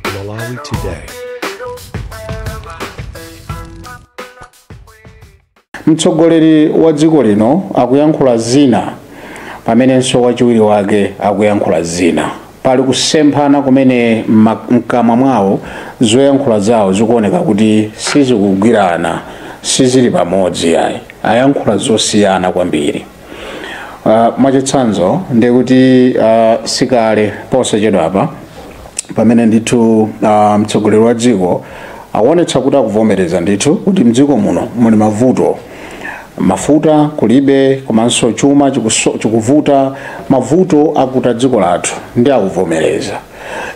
Malawi Today. mtsogoleri wa dziko lino akuyankhula zina pamenenso wachiwiri wake akuyankhula zina pali kusemphana kumene mma- mkamwa mwawo zoyankhula zawo zikuoneka kuti sizikugwirana sizili pamodzi ayi ayankhula zosiyana kwambiri Uh, mwachitsanzo ndi kuti uh, sikale posachedwa apa pamene ndithu uh, mtsogoleri wa dziko akuonetsa kuti akuvomereza ndithu kuti mdziko muno muli mavuto mafuta kulibe komanso chuma chikuso- chikuvuta mavuto akuta dziko lathu ndi akuvomereza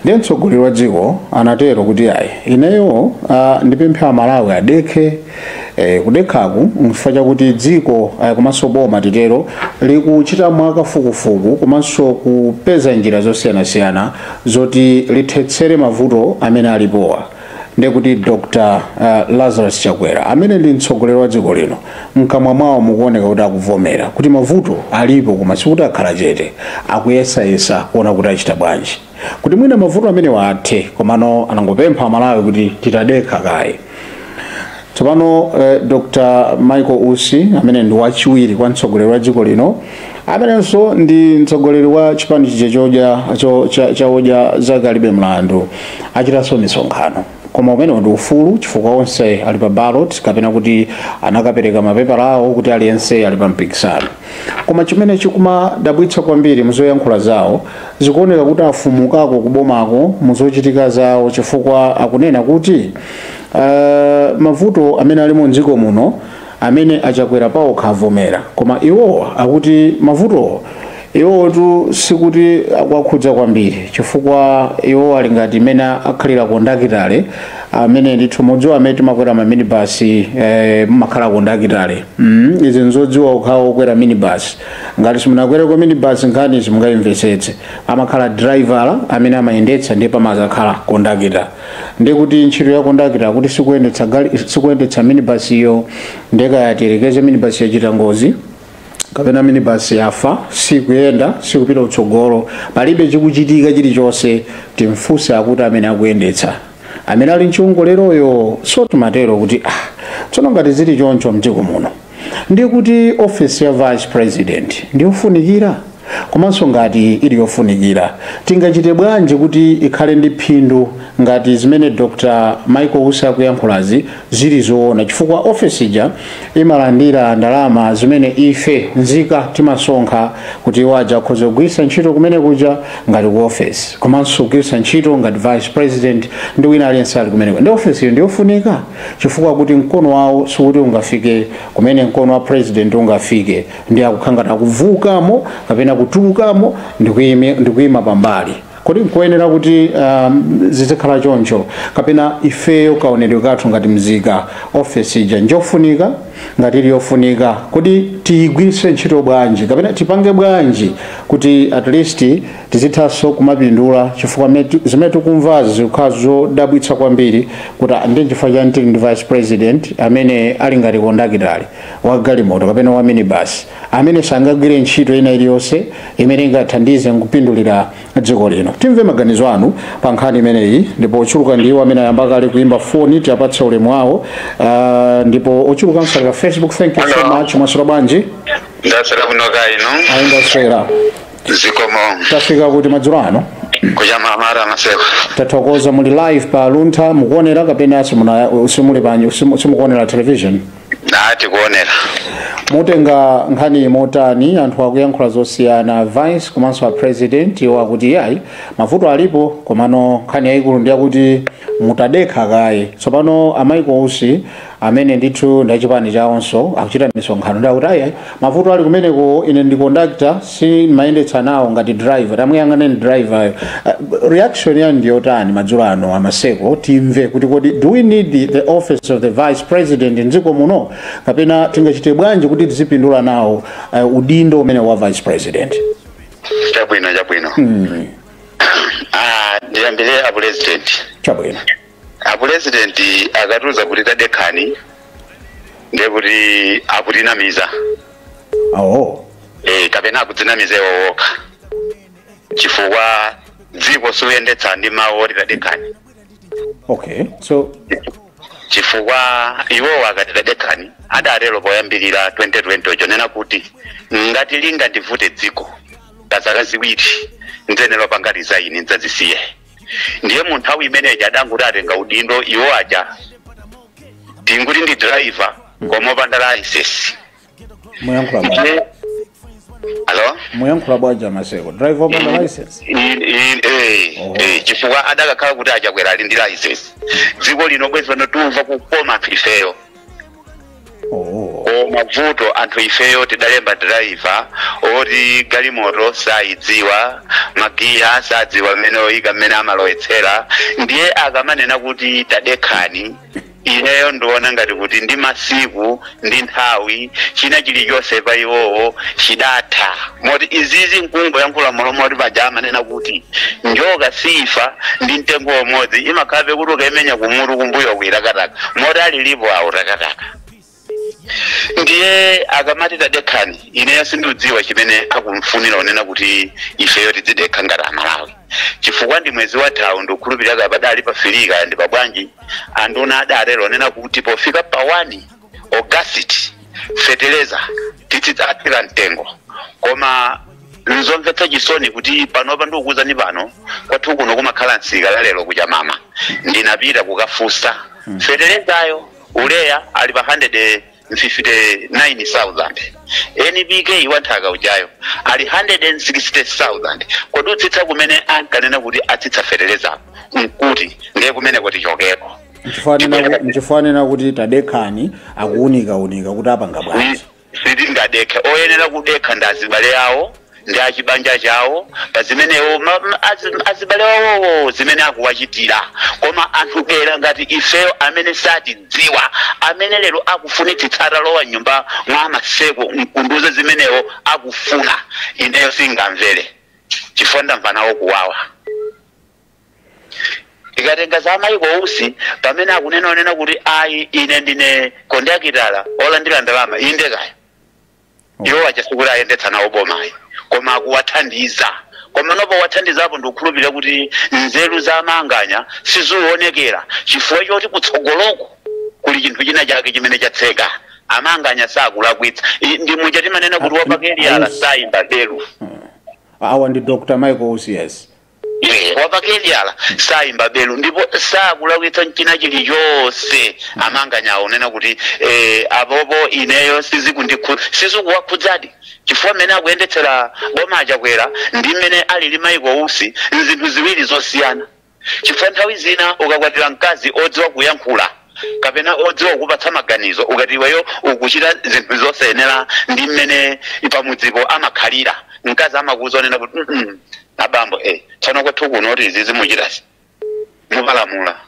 ndiye mtsogoleri wa dziko anatero kuti ayi ineyo ah, ndipemphe amalawi adekhe eh, kudekhaku nchifukwa chakuti dziko ah, komanso boma titero likuchita mwakafukufuku komanso kupeza njira zosiyanasiyana zoti lithetsere mavuto amene alipowa ndekuti dr uh, lazarus chakwera amene ndi mtsogoleri wa dziko lino mkamwa mwawo mukuoneka kuti akuvomera kuti mavuto alipo koma sikuti akhala chete akuyesayesa kuona kuti achita bwanji kuti mwina mavuto amenewa athe komano anangopempha amalawi kuti titadekha kaye tsopano eh, dr michael usi amene ndi wachiwiri kwa mtsogoleri wa dziko lino amenenso ndi mtsogoleri wa chipani chija chodya cho- cha- cha odya zake alibe mlandu achitanso misonkhano koma umenewo ndi ufulu chifukwa onse ali pa ballot kapena kuti anakapereka mapepala awo kuti aliyense ali pa mpikisano koma chimene chikumadabwitsa kwambiri muzoyankhula zawo zikuoneka kuti afulumukako kubomako muzochitika zawo chifukwa akunena kuti Uh, mavuto amene ali mu dziko muno amene achakwera paokha avomera koma iwowa akuti mavuto iwotu sikuti akuwakhudza kwambiri chifukwa iwo ali ngati mmene akhalira kondakitale amene ndithu modziwa amene timakwera ma minibus eh, mumakhala kondakitale mm, izi nzodziwa okhawo okwera minibus ngati simunakwereko minibus nkhani simungayimvetsetse amakhala driver amene amayendetsa ndipo pamazakhala kondakita ndiye kuti ntchito ya kondakita kuti sikuyendetsa gali sikuyendetsa minibus iyo ndiye kaya tiyerekeze minibus yachita ngozi kapena minibus yafa sikuyenda sikupita utsogolo palibe chikuchitika chilichonse timfunse akuti amene akuyendetsa amene ali mchiwongoleroyo sotimatero kuti ah tsono ngati zili choncho mdziko muno Ndiye kuti ofesi ya vice president ndi yofunikira? Komanso ngati ili yofunikira, tingachite bwanji kuti ikhale ndi phindu ngati zimene Dr Michael Usi akuyankhulazi zili zoona? Chifukwa ofesi ija imalandira ndalama zimene ife nzika timasonkha kuti iwo aja akhoze kugwiritsa ntchito kumene kuja ngati ku ofesi, komanso kugwiritsa ntchito ngati vice president ndi wina aliyense ali kumeneko. Ndiye ofesiyo ndi yofunika? chifukwa kuti mkono wawo sikuti ungafike kumene mkono wa president ungafike ndi akukhangata akuvuukamo kapena kutulukamo ndi kuyima pambali kodi nkoyenera kuti um, zizikhala choncho kapena ifeyo kaonedwe kathu ngati mzika ofesi ija njofunika ngati ili yofunika kodi tiyigwiritse ntchito bwanji kapena tipange bwanji kuti at least Tizithanso kumapindula chifukwa zimene tikumvazi zikukhala zodabwitsa kwambiri kuti ah, ndiye chifukwa chani tili ndi vice president amene ali ngati kondakitale wa galimoto kapena wa minibasi amene sangagwire ntchito ina iliyonse imene ingathandize nkupindulira dziko lino. Timve maganizo anu pa nkhani imeneyi ndipo ochuluka ndi iwo amene ayamba kale kuimba foni tiapatse ulemu wawo ah, ndipo ochulukanso ali pa Facebook. Thank you so Hello. much. Mwaswera bwanji? ndaswera bwino kaya inu Ayi ndaswera. zikomo tafika kuti madzulo ano kuchama mara maseko tathokoza muli live pa luntha mukuonera kapena simuna- simuli panji simu- simukuonera television ndikuonera mutenga nkhani motani anthu akuyankhula zosiyana vice komanso a president iwo akuti yayi mavuto alipo komano nkhani yayikulu ndi yakuti mutadekha kaye tsopano a Michael Usi amene ndithu ndi achipani chawonso akuchita misonkhano ndi akuti ayi mavuto ali kumeneko ine ndi conductor sindimayendetsa nawo ngati driver tamuyang'aneni driveryo uh, reaction yanu ndi yotani madzulo ano amaseko timve kuti kodi do we need the office of the vice president mdziko muno kapena tingachite bwanji kuti tizipindula nawo uh, udindo umene wa vice president chabwino chabwino Ah, ndiyambire a president chabwino apulezidenti akatiuza kuti tadekhani ndiye kuti akutinamiza awo e, kapena akudzinamiza iwo okha chifukwa dziko suyendetsa ndi mawu oti tadekhani okay so chifukwa iwowo akati tadekhani adatero poyambirira 2020 chonena kuti ngati lingandivute dziko pazaka ziwiri ndzanena ndipanga resign ndzazisiye ndiye mu nthawi imeneyi adangoti atenga udindo iwo aja tinguti ndi driver koma opanda license muyankhula bwanji alo muyankhula bwanji amaseko driver opanda license In- in- eh, Oh. eh, chifukwa adakakhala kuti a Chakwera ali ndi license dziko lino bwezi pano tumva kukoma ifeyo Oh. koma vuto anthu ifeyo tidalemba driver oti galimoto sayidziwa magiya sadziwa mmene oyika mmene amalowetsera ndiye akamanena kuti tadekhani ineyo ndiona ngati kuti ndi masiku ndi nthawi china chilichonse pa iwowo chidatha moti izizi nkungoyankhula mmalo moti paja amanena kuti njoka siifa ndi mtengo umodzi imakhalabe kuti ukaimenya kumutu kumbuyoku itakataka moti alilipo awo takataka ndiye akamati tadekhani ineyo sindikudziwa chimene akufunira unena kuti ifeyo tidzidekha ngati amalawi chifukwa ndi mwezi wathawu ndikukhulupirira kaya padali pa firi kaya ndi pabwanji anduna adatero onena kuti pofika pa wani ogasiti feteleza titi atsika mtengo koma nzomvetsa chisoni kuti panopa ndikukuuzani pano kwathu kuno kumakhala msika la lero ku Chamama ndinapita kukafunsa fetelezayo uleya ali pa 159,000 NPK wanthaka ujayo ali 160,000 kodi kutsitsa kumene ankanena kuti atsitsa fetelezako nkuti ndiye kumeneko tichokeko nchifukwa kunena kuti tadekhani akuunikaunika kuti apanga bwanji sitingadekhe oyenera kudekha ndi azibale awo ndi achibanja chawo pa zimene iwo ma- ma- azi- azibale awowo zimene akuwachitira koma anthu adera ngati ifeyo amene satidziwa amene lero akufunitsitsa atalowa mnyumba mwa a Maseko nkundiuza zimene iwo akufuna ineyo singamvere chifukwa ndamva nawo kuwawa tikatenga za michael usi pamene akunena onena kuti ayi ine ndine kondakitala olandira ndalama inde kaya iwo ati sikuti ayendetsa nawo boma ayi koma akuwathandiza komano powathandizapo ndikukhulupirira kuti nzeru za amanganya sizionekera chifukwa choti kutsogoloko kuli chinthu china chake chimene chatseka amanganya sakulakwitsa I- ndi muja timanena kuti wapakaliyala sayimba belu awa ndi dr michael usi yes Eh, wapakaliyala sayimba belu ndipo sakulakwitsa mchina chilichonse amanganyawo onena kuti eh, apopo ineyo sizikundikhu- sizikuwakhudzadi chifukwa mmene akuyendetsera boma achakwera ndi mmene alili michael usi nzinthu ziwiri zosiyana chifukwa nthawi zina ukakwatira mkazi odziwa kuyankhula kapena odziwa kukupatsa maganizo ukati iweyo ukuchita zinthu zosayenera ndi mmene pamudzipo amakhalira mkazi amakuuza onena kuti "Mm-mm, abambo eh, tsono kwathu kuno kuti izizi muchitazi mupalamula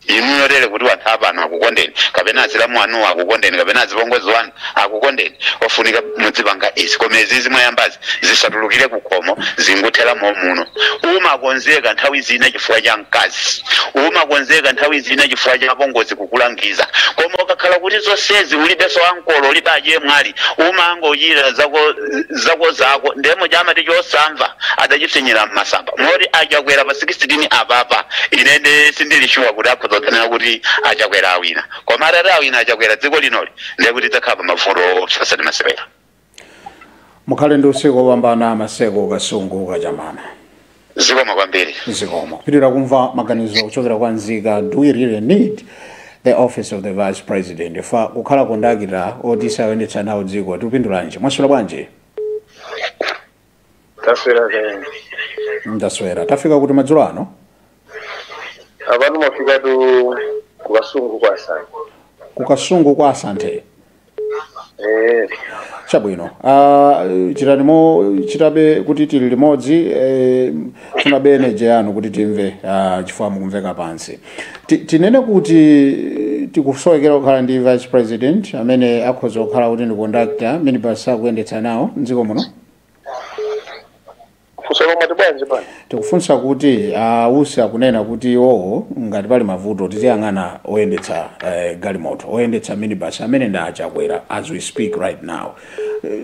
inuyo tere kuti wanthu apano akukondeni kapena azilamu anuwo akukondeni kapena azipongozi wanu akukondeni ofunika mudzipanga izi koma izizi mwayambazi zisatulukire kukhomo zinguthera momuno umakonzeka nthawi zina chifukwa cha mkazi umakonzeka nthawi zina chifukwa cha apongozi kukulangiza koma ukakhala kuti zonsezi ulibenso ankolo ulibe achemwali umangochita zako zako zako ndemo chamati chosamva adachipsinyira mmasamba moti achakwera pa 16 apapa inende sindilishuwa kuti akhoza kutsanena kuti achakwera awina koma atati awina achakwera dziko linoli ndiye kuti tidzakhala pa mavuto oopsa osati masewera mukhale ndi usiku wopambana maseko kasungu kachamana zikomo kwambiri zikomo kupitirira kumva maganizo kuchokera kwa nzika do we really need the office of the vice president if kukhala kondakita oti sayendetsa nawo dziko tikupindulanji mwaswera bwanji taswera kaya inu ndaswera tafika kuti madzulo ano apano mwafikatu kukasungu kwa santhe kukasungu kwa santhe eh chabwino uh, chitilimo chitabe kuti tili limodzi eh, tifunabe eneje yanu kuti timve uh, chifukwa mukumveka pansi Ti- tinene kuti tikusowekera kukhala ndi vice president amene akhoza kukhala kuti ndi conductor minibus akuyendetsa nawo mdziko muno funso lo mwati bwanji bwana tikufunsa kuti a Usi akunena kuti iwowo ngati pali mavuto tiziyang'ana oyendetsa eh, galimoto oyendetsa minibus amene ndi achakwera as we speak right now Eh,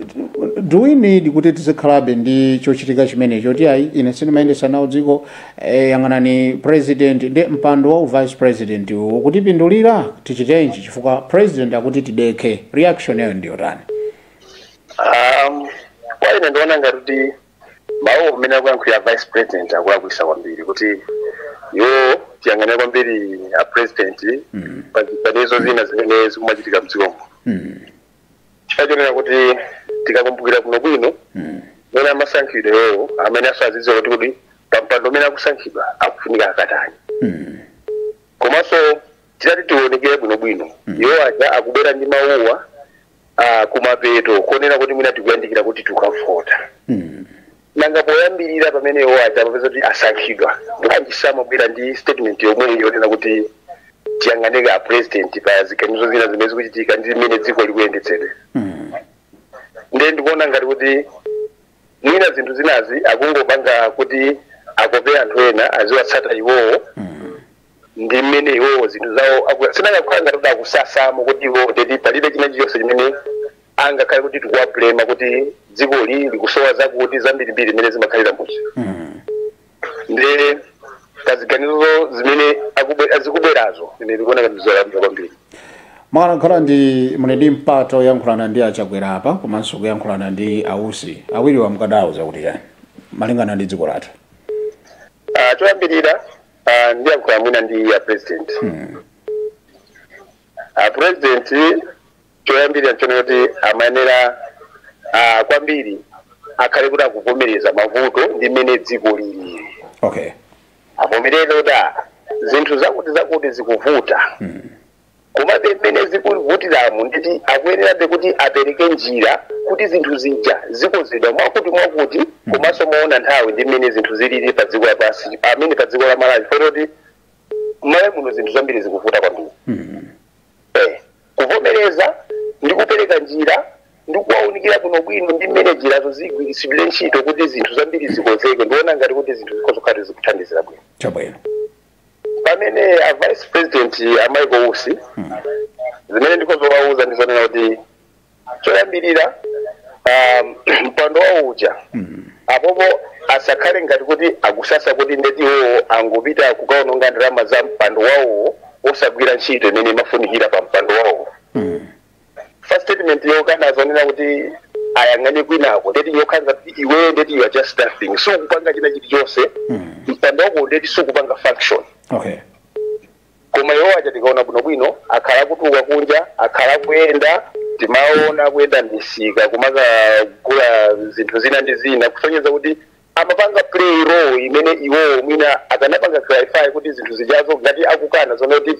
do we need kuti tizikhalabe ndi chochitika chimenecho kuti ayi ine sindimayendetsa nawo dziko eh, yang'anani president ndi mpando wa uvice president ukutipindulira tichitenji chifukwa president akuti tidekhe reaction yawo ndiyotani Um, kwa ine ndiona ngati kuti mawuwo mmene akuyankhulira vice president akulakwisa kwambiri kuti iwo tiyang'anire kwambiri a president pa ziganizo zina zimene zikumachitika mdzikomu chifukwa chonena kuti tikakumbukira bwinobwino mene amasankhidwa iwowo amayenera azidziwa kuti kuti pampando umene akusankhidwa akufunika akatani komanso titati tionekere bwinobwino iwo aja akubwera ndi mawuwa ah, kumapeto konena kuti mwina tikuyandikira kuti tikavote nanga poyambirira pamene iwo aja amapeza kuti asankhidwa bwanji samabwera ndi statement yomweyi yonena kuti tiyang'anire a president pa ziganizo zina zimene zikuchitika ndi mmene dziko likuyendetsedwera ndiye ndikuona ngati kuti mwina zinthu zinazi akungopanga kuti akope anthu ena aziwatsata iwowo ndi mmene iwowo zinthu zawo aku- sizingakhale ngati kuti akusasa kuti iwowo ndeti palibe china chilichonse chimene angakhale kuti tikuwablema kuti dzikoli likusowa zakuti zambirimbiri zimene zimakhalira udzi Mm. ndi kuti ziganizo zimene akubwe- azikubwerazo ine ndikuona ngati zolakwika kwambiri mukanakhala kuti muli ndi mpata woyankhulana ndi a Chakwera apa komanso kuyankhulana ndi a Usi awiriwa mukadawauza kuti chani malingana ndi dziko lathu Ah, choyambirira ah, ndiyankhula mwina ndi a president a president choyambirira nchonena kuti amayenera ah, kwambiri akhale kuti akuvomereza mavuto ndi mmene dziko lili okay avomereze kuti ah, zinthu zakuti zakuti zikuvuta Komabe mmene zikuvutiramo ndeti akuyenerabe kuti apereke njira kuti zinthu zija zikonzedwa mwakutimwakuti komanso moona nthawi ndi mmene zinthu zilili pa dziko lapansi amene pa dziko la Malawi chifukwa choti Malawi muno zinthu zambiri zikuvuta kwambiri eh, kuvomereza ndi kupereka njira ndi kuwaunikira bwinobwino ndi mmene njirazo zigwiritsidwire ntchito kuti zinthu zambiri zikonzeke ndiona ngati kuti zinthu zikhoza kukhala zikuthandizira bwino chabwino pamene a vice president a Michael Usi zimene ndikhoza kuwauza ndi zonena kuti choyambirira um, mpando wawo uja apopo asakhale ngati kuti akusasa kuti ndeti iwowo angopita kukaononga ndalama za mpando wawowo osagwira ntchito imene imafunikira pa mpando wawowo first statement yokana zonena kuti ayang'ane kwinako ndeti yokhala ngati iwe ndeti you are just nothing sukupanga china chilichonse mpando wako ndeti sukupanga function okay koma iwo aja tikaona bwinobwino akhala akutuluka kunja akhala akuyenda timaona akuyenda misika kumakagula zinthu zina ndi zina kusonyeza kuti amapanga play role imene iwowo mwina akanapanga clarify kuti zinthu zijazo ngati akukana zonena kuti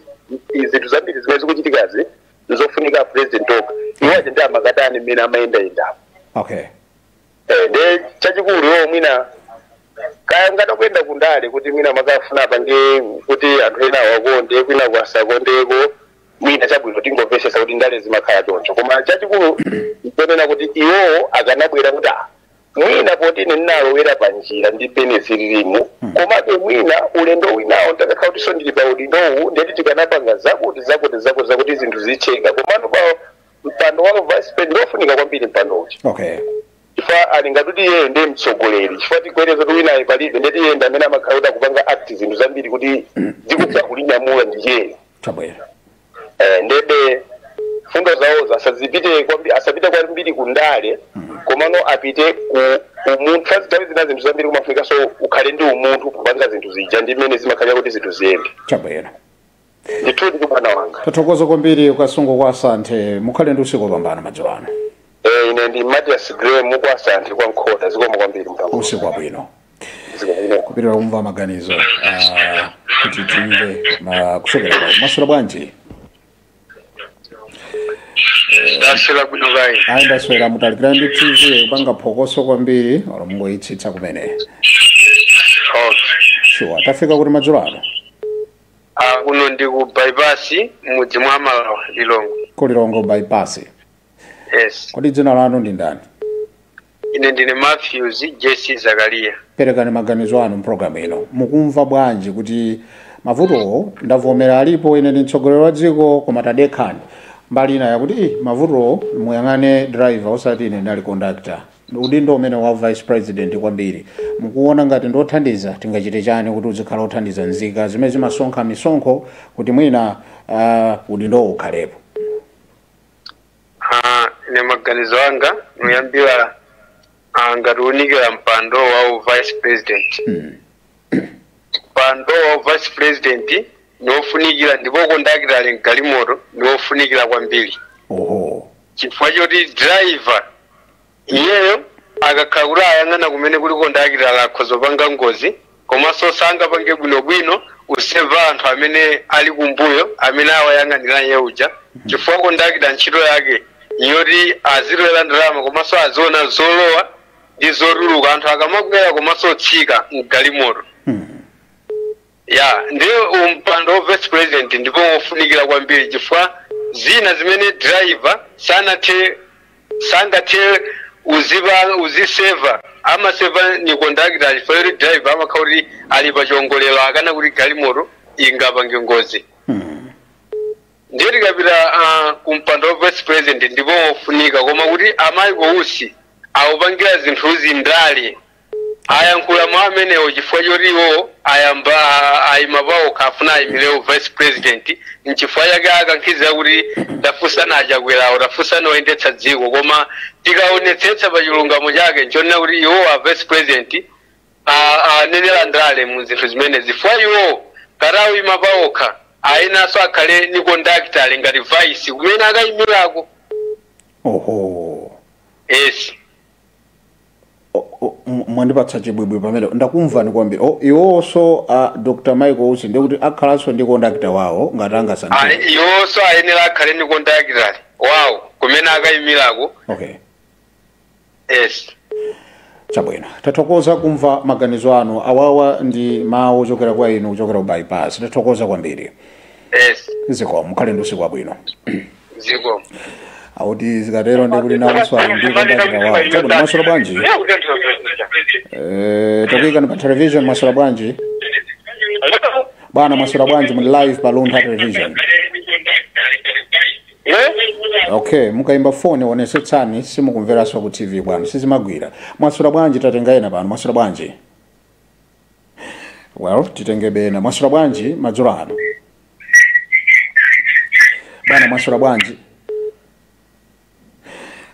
i- zinthu zambiri zimene zikuchitikazi nzofunika a president okha iwo aja ndi amakatani mmene amayendayendamo okay Eh, nde chachikulu iwo mwina kaya ngati akuyenda kundale kuti mwina amafuna apange kuti anthu ena awakonde kwina kosawakondako mwina chabwino tingomvesesa kuti ndale zimakhala choncho koma chachikulu nchonena kuti iwowo akanabwera kuti ah, Mwina poti ine ndinalowera pa njira ndi mmene zililimu, komabe mwina ulendo winawo nditakakhala kutinso ndili pa udindowu ndeti tikanapanga zakuti zakuti zakuti zakuti zinthu zitheke komano pa mpando wa vice president ndiofunika kwambiri mpando uchi okay chifukwa ali ngati kuti iyeyo ndiye mtsogoleri chifukwa tiyerekeze kuti winayo palibe ndeti iye ndi amene amakhala kuti akupanga act zinthu zambiri kuti dziko akulinyamula ndi iyeyo chabwino Eh, ndebe mfundo zawozo asazipite kwambi- asapite kwambiri ku ndale komano apite ku umunthu sazitawi zina zinthu zambiri kumafunikanso ukhale ndi umunthu kupanga zinthu zija ndi mmene zimakhalira kuti zinthu ziyende chabwino ndithu ndi bwana wanga tathokoza kwambiri ku Kasungu kwa asanthe mukhale ndi usiku wopambana madzulo ano Eh, ine ndi matias grey kwa asanthe kwa mkhoda zikomo kwambiri mpango usiku wabwino kupitira kumva maganizo ah, kuti timve ma- kuchokera kwa maswera bwanji ndaswera bwino kaya ayi ndaswera mutalikira ndi tv kupanga phokoso kwambiri olo mungoyitsitsa kumene sure tafika kuti madzulo ano Ah, kuno ndi ku bypass mudzi mwa malawa Lilongwe ku Lilongwe bypass yes kodi dzina lanu ndi ndani Ine ndine Matthews JC Zakaria. perekani maganizo anu mpulogalamu ino mukumva bwanji kuti mavutowo ndavomera alipo ine ndi mtsogoleri wa dziko koma tadekhani mbali ina yakuti "Ih, mavutowo muyang'ane driver osati ine ndinali conductor udindo umene wa vice president kwambiri mukuona ngati ndi othandiza tingachite chani kuti uzikhala othandiza nzika zimene zimasonkha misonkho kuti mwina uh, udindowo ukhalepo Ah, ine maganizo anga niyambira ah, ngati niwunikira mpando wa u vice president mpando wa u vice president niwofunikira ndipo kondakita ali mgalimoto niwofunikira kwambiri oho chifukwa choti driver Iyeyo akakhala kuti ayang'ana kumene kuli kondakitala atha kupanga ngozi komanso sangapange bwinobwino kuseva anthu amene ali kumbuyo amene awayang'anira iye uja chifukwa kondakita ntchito yake yoti azitolera ndalama komanso aziona zolowa ndi zotuluka anthu akamakwera komanso otsika mgalimoto ya ndiye mpando wa vice president ndipo wofunikira kwambiri chifukwa zina zimene driver sanathe sangathe kuziva kuziseva amaseva ni conductor chifukwa choti driver amakhala kuti ali pa chiongolero akana kuti galimoto ingapange ngozi Hmm. ndiye tikapita ah, ku mpando wa vice president ndipo wofunika koma kuti amayi a Usi akupangira zinthuzi ndale Ayankhula mau amenewo chifukwa choti iwowo ayamba ayima paokha afuna ayimire wo vice president nchifukwa chake akankhizira kuti tafunsani achakwerawo tafunsani oyendetsa dziko koma tikaonetsetsa pa chilungamo chake nchonena kuti iwowo a vice president a- anenera ndale mu zinthu zimenezi chifukwa iwowo ngati ayima paokha ayenanso akhale ni conductor ngati vice kumene akayimirako oho yes O- o- m- mwandipatsa chibwibwi pamene ndakumvani kwambiri O, iwonso a dr michael usi ndikuti akhalanso ndi kondakitala wawo ngati angasankhidwe Ayi, iwonso ayenera akhale ndi kondakitala wawo kumene akayimirako okay yes chabwino tathokoza kumva maganizo anu awawa ndi mawu ochokera kwa inu kuchokera ku bypass tathokoza kwambiri yes zikomo mukhale ndi usiku wabwino zikomo akuti zikatero ndi kuti nawonso ali ndi kondakitala wawo chabwino mwaswera bwanji Eh, takuyikani pa television mwaswera bwanji bwana mwaswera bwanji muli live pa luntha television okay mukayimba foni onesetsani simukumveranso ku tv bwana sizimagwira mwaswera bwanji tatenga ena pano mwaswera bwanji well titengebe ena mwaswera bwanji madzulo ano bwana mwaswera bwanji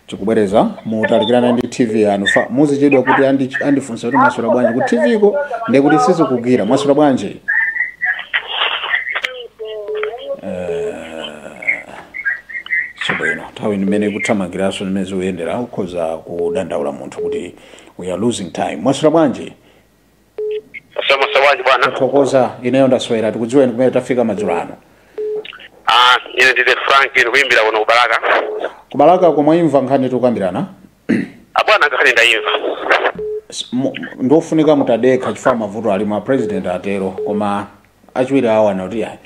tikubwereza mutalikirane ndi tv yanu chifukwa muzichedwa kuti andi- andifunsa kuti mwaswera bwanji ku tv ko ndiye kuti sizikugwira mwaswera bwanji chabwino nthawi mmene ikuthamangiranso mmene zikuyendera ukhoza kudandaula munthu kuti we are losing time mwaswera bwanji Mwaswera bwanji bwana. Tathokoza ineyo ndaswera tikudziweni kumene tafika madzulo ano. Ah, ine ndine Frank ndikuimbira kuno ku Balaka. Ku Balaka komwe mwaimva nkhani tikukambirana. Abwana nkhani ndaimva. S- mu- Ndiofunika mutadekha chifukwa mavuto alimo a president atero koma achiwiri awo anati "Ayi,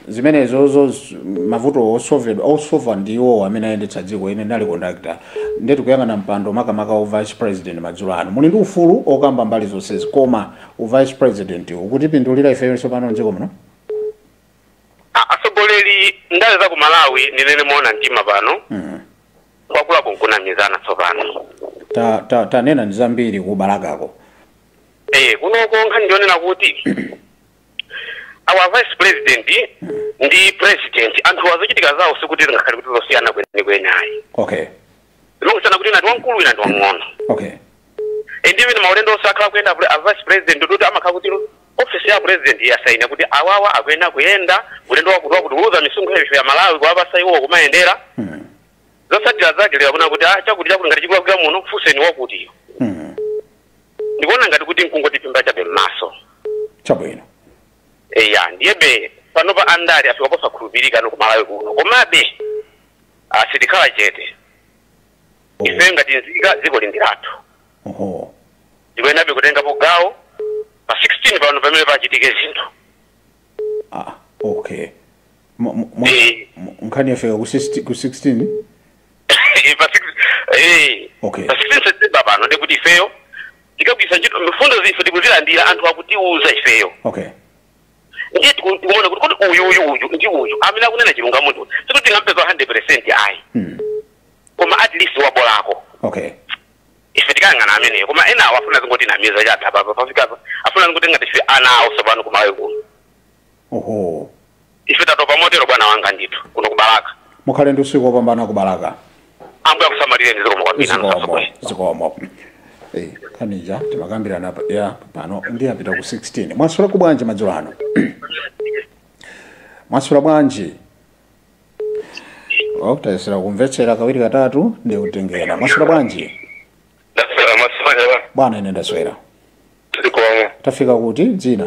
zimenezozo z- mavuto osovedwa osova ndi iwowo amene ayendetsa dziko ine ndinali kondakitala ndiye tikuyang'ana mpando makamaka wa vice president madzulo ano muli ndi ufulu okamba mbali zonsezi koma u vice president ukutipindulira ife panopa mdziko muno A- atsogoleri ndale za ku malawi ndinene moona mtima pano kwakula nkunamizana tsopano Ta- ta- tanenani zambiri ku Balakako Eh, kunoko nkhani ndi yonena kuti a vice president ndi president anthuwa zochitika zawo sikuti zingakhale kuti zosiyana kwenikweni ayi okay zimangosiyana kuti wina ndi wamkulu wina ndi wamng'ono okay and even maulendo onse akhala kuyenda kuti a vice president kuti amakhala kuti office ya president yasaina kuti awawa akuyenda kuyenda ulendo wakuti wakuti kutulutsa misonkho yathu ya Amalawi kuwapatsa iwo kumayendera mm. zotsatira zake lero kunena kuti ah chakuti chakuti ngati chikulakwira muno funseni wakutiyo mm. ndikuona ngati kuti nkungotiphimba chabe m'maso chabwino eya ndiyebe panopa andale afika posakhulupirika no kumalawi kuno komabe ah, sitikhala chete ife ngati nzika dziko li ndi lathu oho ndikuyenerabe kutengapo gawo pa 16 pano pamene pachitike zinthu ah okay Mu- mu- mu- Eh. mu- nkhani yafika ku 16 ku 16 pa 6 eh Okay. pa 6 September pano ndiye kuti ifeyo tikagwiritsa ntchito mfundozi ife tikuzilandira anthu akutiuza ifeyo okay ndiye tiku- tikuona kuti kuti uyu uyu uyu ndi uyu amene akunena chilungamo ndi uyu. sikuti tingampeza 100% ayi mm. koma at least wabolako okay ife tikayang'ana ameneyo koma enawo afuna azingotinamiza chatha papa pafikapa afuna azingoti ngati ife ana awo tsopano ku Malawi kuno Oho. Ife tatopa motero bwana wanga ndithu kuno ku Balaka. Mukhale ndi usiku wopambana ku Balaka. Ambuye akusamalireni zikomo kwambiri nanu Zikomo. kasogwe. Zikomo. Eh, nkhani ija timakambirana pa- ya pano ndi apita ku 16. Mwaswera bwanji madzulo ano? Mwaswera bwanji? Oh, tayesera kumvetsera kawiri katatu ndi kutengera. Mwaswera bwanji? Ndaswera mwaswera Bwana ine ndaswera. zikomo. Tafika kuti dzina?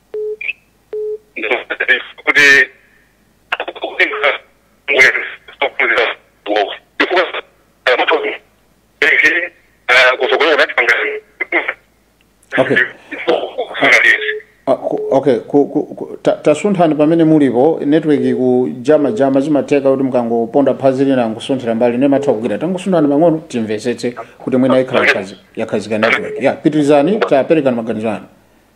kuti Okay. Ah, ku- okay ku- ku- ku- ta- tasunthani pamene mulipo network ikujama jama zimatheka kuti mukangoponda phazi lina nkusunthira mbali ina imatha kugwira tangosunthani pang'ono timvetsetse kuti mwina ikhala yakhazi- yakhazika network ya pitirizani taperekani maganizo anu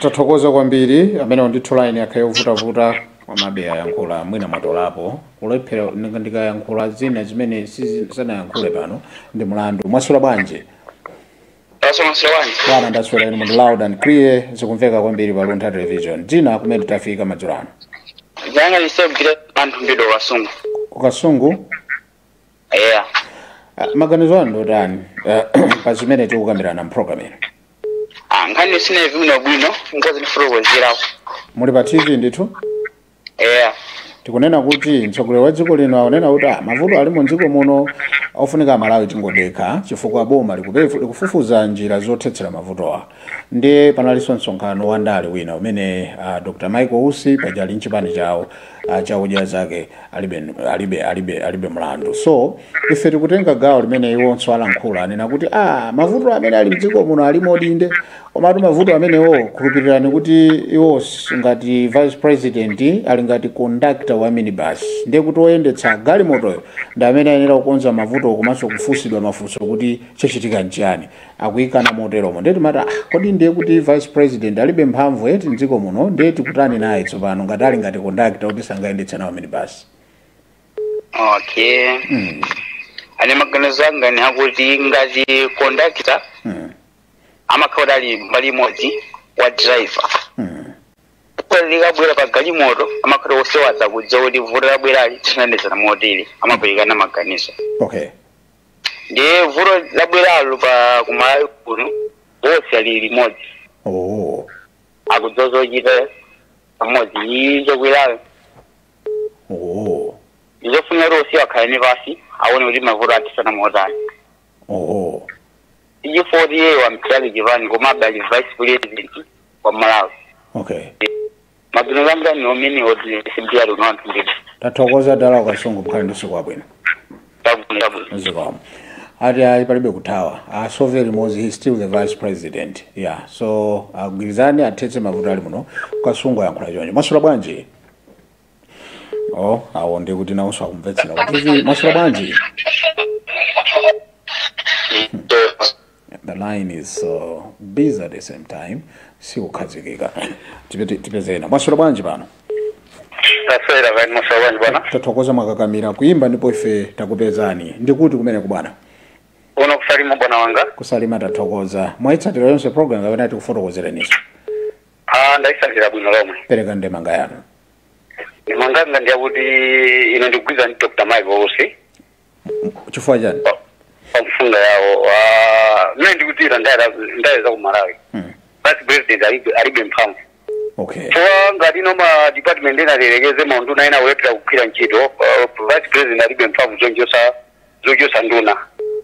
tathokoza kwambiri ameneyu ndithu line yakhala yovutavuta komabe ayankhula mwina mwatolapo kulephera ndika- ndikayankhula zina zimene sizi- sanayankhule pano ndi mlandu mwaswera bwanji Mwaswera bwanji. bwana ndaswera ine ndithu loud and clear zikumveka kwambiri pa luntha television dzina kumene tafika madzulo ano Dzina langa lisogire anthu mbido wa ku Kasungu. kukasungu eya Ah, maganizo anu ndotani ah, pa zimene tikukambirana mpulogalamu ino Ah, nkhani sinaimve bwino bwino nkozi ndifuna kuwezerapo muli pa tv ndithu eya tikunena kuti mtsogoleri wa dziko lino akunena kuti ah, mavuto ali mu dziko muno ofunika amalawi tingodekha chifukwa boma likupefu- likufufuza njira zothetsera mavutowa ndiye panalinso msonkhano wa ndale wina umene ah, dr michael usi paja ali mchipani chawo cha odya zake alibe, alibe, alibe, alibe mlandu so ife tikutenga gawo limene iwonso alankhula anena kuti ah, mavuto amene ali mdziko muno alimodi inde komatu mavuto amenewo khulupirirani kuti iwo s- ngati vice president ali ngati conductor wa minibus ndiye kuti oyendetsa galimotoyo ndi amene ayenera kukonza mavuto komanso kufunsidwa mafunso kuti chachitika nchiyani akuikana moteromo ndiye timati ah, kodi ndiye kuti vice president alibe mphamvu eti mdziko muno ndiye tikutani naye tsopano ngati ali ngati kondakita kuti sangayendetse nawo minibasi okay mm. ine maganizo anga ni akuti ngati kondakita mm. amakhala kuti ali mbali imodzi wa driver mm. Kodi likabwera pa galimoto amakhala wonse akudziwa kuti vuto labwerali tithandizana motani amaperekana maganizo okay ndiye vuto labweralo pa kumalawi kuno wonse ali limodzi oh akudziwa zochita pamodzi iyi zokwerayo oh ndizofunikira kuti wonse akhale ni pansi aone kuti mavuto athetsana motani oh si chifukwa choti iye wamchali chipani koma akadali vice president wa malawi okay mabino langa ni omini oti simpiya luno anthu nditi tathokoza dala ku kasungu mukhale ndi usiku wabwino chabwino chabwino zikomo ati ayi palibe kuthawa asove limodzi he's still the vice president yeah so agwirizane athetse mavuto ali muno ku kasungu ayankhula choncho mwaswera bwanji oh awo ndi kuti nawonso akumvetsera kuti mwaswera bwanji The line is so busy at the same time. Sikukhazikika. Tipete tipeze ena. Mwaswera bwanji pano. taswera kaya inu mwaswera bwanji bwana Tathokoza mwakakamira kuimba ndipo ife takupezani. Ndi kuti kumeneko bwana. kuno ku Salima bwana wanga Ku Salima tathokoza. Mwaitsatira yonse program kapena tikufotokozereninso. ah ndaitsatira bwino lomwe Pereka ndemanga yanu. ndemanga yanga ndi yakuti ine ndikugwirizana ndi dr michael usi chifukwa chani pa- pa mfundo yawo Ah, mmene ndikudziwira ndale ndale za ku malawi Mm. vice president alibe alibe mphamvu okay chifukwa ngati ino ma department ena alilekeze maunduna ena akulephera kugwira ntchito ah, vice president alibe mphamvu zochotsa zochotsa nduna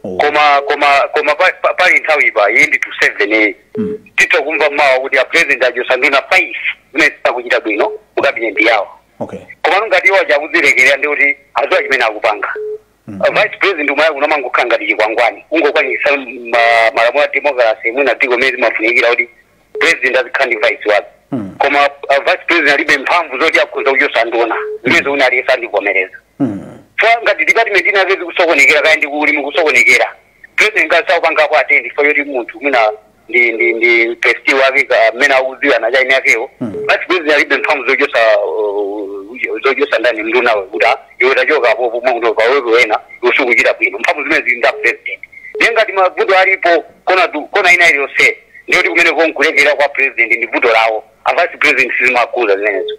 Oh. koma koma koma pa- pa- pali nthawi ipa iyi ndi to seven iyi Mm. titha kumva mawa kuti a president achotsa nduna five zimene sizikuchita bwino mu kabineti yawo okay komano ngati iwo aja akuzilekerera ndiye kuti adziwa chimene akupanga Uh, vice president ku malawi kuno amangokhala ngati chikwangwani kungokwaniritsa ma- malamulo a democracy mwina dziko mene zimafunikira kuti president azikhala ndi vice wake Mm. koma uh, vice president alibe mphamvu zoti akhoza kuchotsa nduna zimene zikuti aliyense andivomereza Mm. chifukwa ngati department inake zikusokonekera kaya ndi ku ulimi kukusokonekera president ngati sakupangako attend chifukwa choti munthu mwina ndi ndi ndi besti wake ka- mmene akudziwana chaini yakewo vice president alibe mphamvu zochotsa uh, zochotsa ndani mndunawe kuti ah, iwe tachoka apo pomwe kuno pabwerepo wina sukuchita bwino mphamvu zimenezo zili ndi a president ndiye ngati mavuto alipo kona du- kona ina iliyonse ndiye kuti kumeneko nkulekelera kwa president ndi vuto lawo a vice president sizimawakhuza zimenezo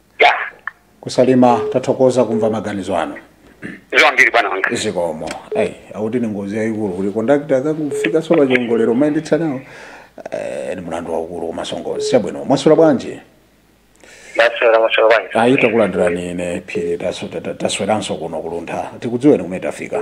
ya kusalima tathokoza kumva maganizo anu zambiri bwana wanga zikomo ayi akuti ndi ngozi yayikulu kuti kondakitala akakufikanso pa chiongolero mayendetsa nawo eh, ndi mulandu waukulu komanso ngozi chabwino mwaswera bwanji ndaswera mwaswera bwanji ayi takulandirani ine phiri taso- ta- ta- tasweranso kuno kuluntha tikudziweni kumene tafika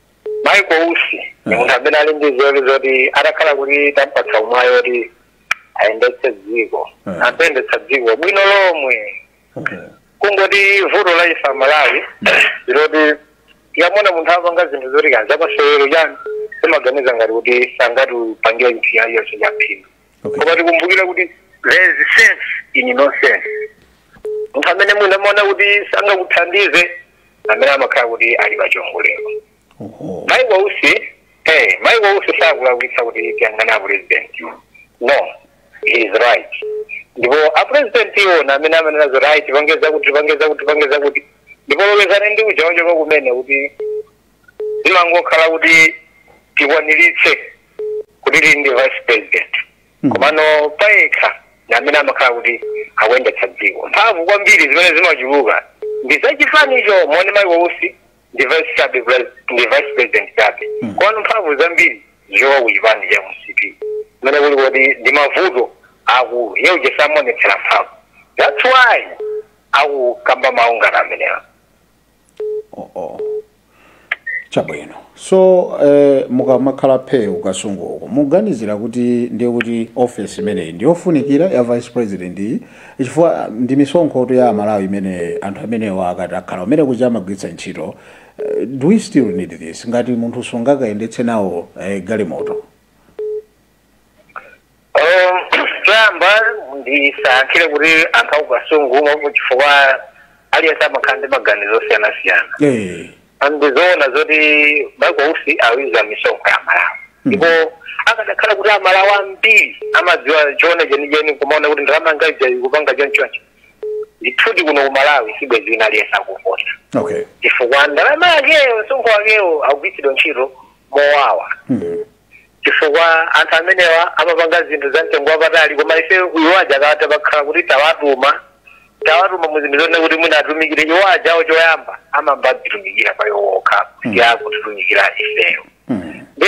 Michael Usi ndi munthu amene ali ndi nzeru zoti atakhala kuti tampatsa mwayi woti ayendetse dziko Eh. atha kuyendetsa dziko bwino lomwe Okay. kungoti vuto la ife amalawi ndi loti tikamona munthu apanga zinthu zoti ngati zamasewero chani timaganiza ngati kuti sangatipangire chinthu china chilichonse chaphindu Okay. koma tikumbukire kuti there is sense in nonsense munthu amene mwina amaona kuti sangakuthandize amene amakhala kuti ali pa chiongolero Oho. Michael Usi eh Michael Usi sakulakwitsa kuti tiyang'ane a president no he is right ndipo a president iwonso amene amanena zoti ayi tipangeza kuti tipangeza kuti tipangeza kuti ndipo lonjezani ndi uja wachoka kumene kuti zimangokhala kuti tikwaniritse kuti tili ndi vice president komano payekha ndi amene amakhala kuti akuyendetsa dziko mphamvu kwambiri zimene zimachuluka ndi zachipanicho ndiye Michael Usi ndi vice chabe pres- ndi vice president chabe komano mphamvu zambiri zikuchoka ku chipani cha mcp kumene kuli kuti ndi mavuto akulu iye uja samaonetsera mphamvu that's why akukamba mawu ngati amenewa chabwino so eh, mukamakhala phe ku Kasungu uko mukuganizira kuti ndiye kuti office imeneyi ndiyofunikira ya vice president iyi chifukwa ndi misonkhotu ya amalawi imene anthu amenewa akati akhala umene kuja amagwiritsa ntchito Eh, do we still need this ngati munthu sungakayendetse nawo eh, galimoto choyamba ndisayankhire kuti anthu akukasungu umo chifukwa aliyense amakhala ndi maganizo osiyanasiyana Eh. ndizoona zoti Michael Usi akudya misonkho ya malawi ndipo akadakhala kuti amalawi ambiri amadziwa choona chenicheni kumaona kuti ndalama yanga ija ikupanga chonchoncho ndithudi kuno ku malawi sibwezi wina aliyense akuvota Okay. chifukwa ndalama yakeyo msonkho wakewo akugwiritsidwa ntchito mowawa Mm. chifukwa anthu amenewa amapanga zinthu za mtengo wapatali koma ife iwo aja ka- tapakhala kuti tawatuma tawatuma mu zinthu zonena kuti mwina atumikire iwo ajawo choyamba amayamba adzitumikira pa iwo okha kuti akatitumikire ifeyo Mm. nde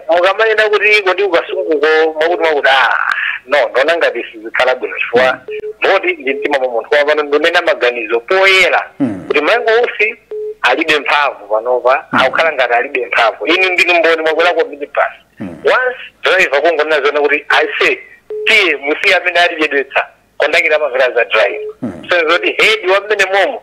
mukamanena kuti kodi ku Kasunguko mwakuti mwakuti ah no ndikuona ngati zikhala bwino chifukwa choti ndi mtima mwa munthu wapano ndinena maganizo poyera Mm. kuti michael usi alibe mphamvu panopa akukhala ngati alibe mphamvu inu ndinu mboni mwakwelako minibus Mm. once driver kungonena zona kuti aise tiye musiye amene atichedwetsa kondakita amamvera za driver Mm. so zoti head wa mmene momo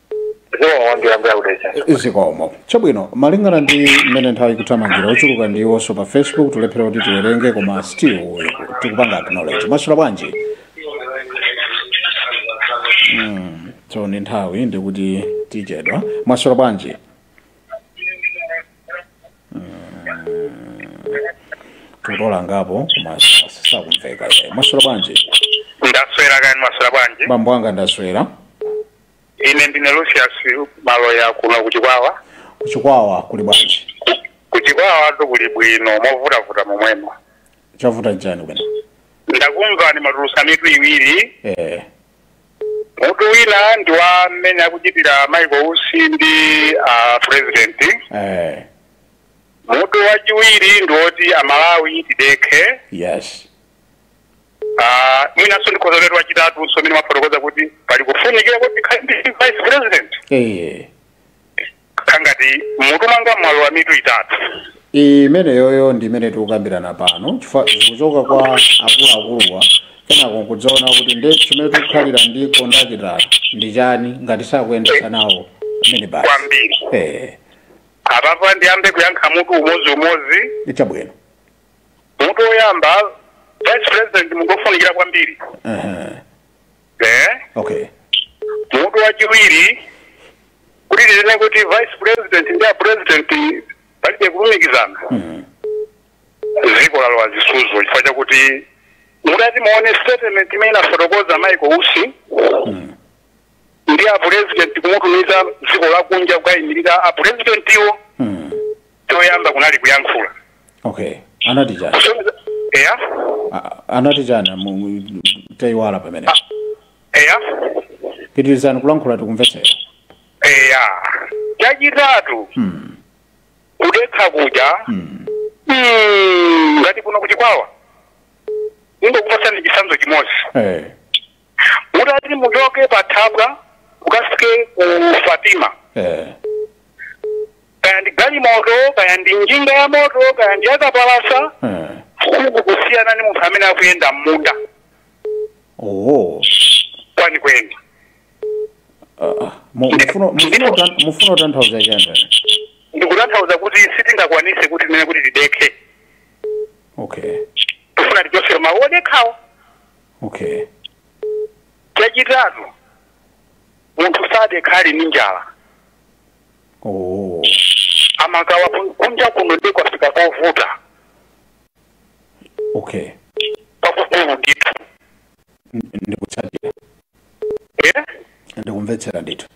zikomo chabwino malingana ndi mmene nthawi ikuthamangira ochuluka ndi iwonso pa facebook tulephera kuti tiwerenge koma still tikupanga acknowledge mwaswera bwanji Mm, so ni nthawi ndikuti tichedwa mwaswera bwanji tutola ngapo koma sakumveka mwaswera bwanji ndaswera kaya mwaswera bwanji bambo anga ndaswera ine ndine lucius maloya kuno kuchikwawa kuchikwawa kuli bwanji kuchikwawa tu kuli bwino movutavuta momwemo chavuta nchani bwana ndakumvani mwatulutsa mitu iwiri eh mutu wina ndi wa mmene akuchitira michael usi ndi a president eh mutu wachiwiri ndi woti amalawi tidekhe yes Ah, mwinanso ndikhoza kuti wachitatunso umene mwafotokoza kuti pali kufunikira kuti tikhale ndi vice president Eh. kaya ngati mmutu mwanga mwalowa mitu itatu imeneyoyo ndi imene tikukambirana pano chifukwa zikuchoka kwa akuluakuluwa kenako nkudzaona kuti nde chimene tikukhalira ndi kondakita ndi chani ngati sakuyendetsa nawo minibasi kwambiri eh apapa ndiyambe kuyankha mutu umodzi umodzi chabwino mutu woyamba vice president munthu wofunikira kwambiri Aha. eh? okay mutu wachiwiri kuti tinene kuti vice president ndi a president palibe kulumikizana dziko lalowa zisudzo chifukwa chakuti mutati muone statement imene anafotokoza michael usi ndi a president kuwatumiza dziko la kunja kukayimirira a presidentiwo Hmm. choyamba kunali kuyankhula okay anati chani Kusonyeza- eya A- anati chani mu- mu- taiwala pamene eya pitirizani kulankhula tikumvetsera eya chachitatu Hmm. kudekha kuja Hmm. mm, ngati kuno kuchikwawa ndingokupatsani chitsanzo chimodzi Eh. mutati muchoke pa thabwa mukafike ku fatima eh. kaya ndi galimoto kaya ndi njinga ya moto kaya ndi yakapalasa eh. siku kusiyana ni munthu amene akuyenda m'munda oh. kwenikweni ah, ah. mukufuna kutanthauza chani ndikutanthauza kuti sitingakwanise kuti tinene kuti tidekhe okay tifuna tichotseretu mawu odekhawo okay chachitatu munthu sadekha ali ndi njala oh amathawa kun- kunja kuno ndi kwafika kovuta okay kwakukulu ndithu N- ndikutsatira Eh? ndikumvetsera ndithu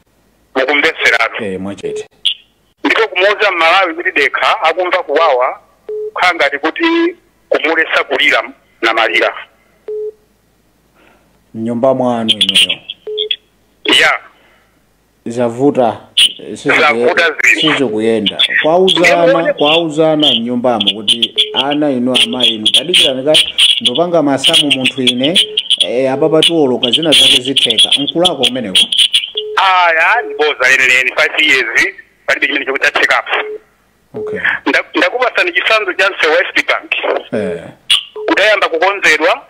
mukumvetseratu eh mwachete Ndipo kumuuza m'Malawi kuti dekha akumva kuwawa kukhala ngati kuti kumuletsa kulira namalira. mnyumba mwanu inuyo Ya, zavuta eh, siziku- Zavuta zinthu. sizikuyenda kwauzana kwauzana mnyumbamo kuti ana inu amayi inu tadikirani kaye ndupanga masamu munthu ine eh, apapa tiwoloka zina zake zitheka nkulako umeneko. aya boza lenileni 5 years palibe chimene chomwe chathekapo okay Nda- ndakupasani chitsanzo cha msewu wa east bank eh kudayamba kukonzedwa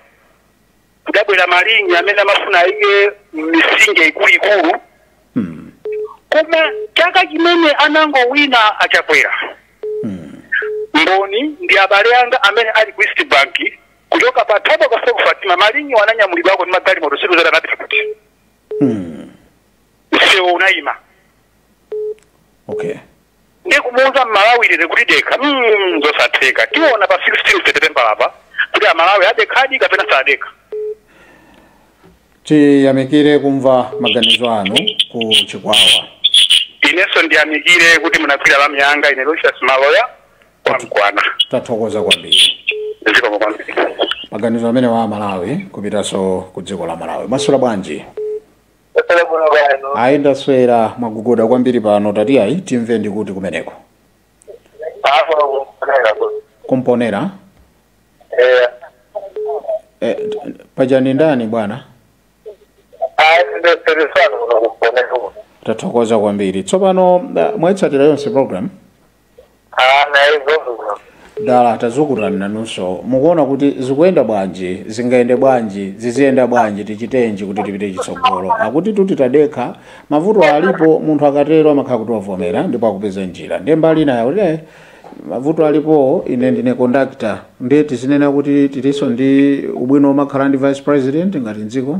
kudabwera mashini amene amafuna ayike misinje ikuluikulu mm. koma chaka chimene anangowina achakwera Mm. mboni ndi abale anga amene ali ku east bank kuchoka pa thabwa mpaka fatima mashini ananyamulidwako ndi magalimoto sitikudziwa anapita kuti Mm. msewu unayima okay ndiye kumuuza mmalawi lero kuti dekha mm, zosatheka tiona pa 16 september apa kuti amalawi adekhadi kapena sadekha tiyamikire kumva maganizo anu ku chikwawa inenso ndiyamikire kuti munagwira lamu yanga ine lucius maloya kwa mkwana tathokoza kwambiri zikomo kwambiri maganizo amenewa amalawi kupitanso ku dziko la malawi mwaswera bwanji Ndaswera bwino kaya inu. ayi ndaswera mwagogoda kwambiri pano tati ayi timve ndikuti kumeneko Hapo kunaenda kwa. ku mponela Eh. eh, paja ndi ndani bwana Ah, ndio serikali unakuponea huko. tathokoza kwambiri tsopano eh, mwaitsatira yonse program Ah, ndaizo bwino. dala tazukuta nanunso mukuona kuti zikuyenda bwanji zingayende bwanji ziziyenda bwanji tichitenji kuti tipite chitsogolo akuti titadekha mavuto alipo munthu akatero amakhala kuti wavomera ndipo akupeza njira ndiye mbali inayo kuti "Eh, mavuto alipo ine ndine conductor ndiye tizinene kuti tilinso ndi ubwino omakhala ndi vice president ngati mdziko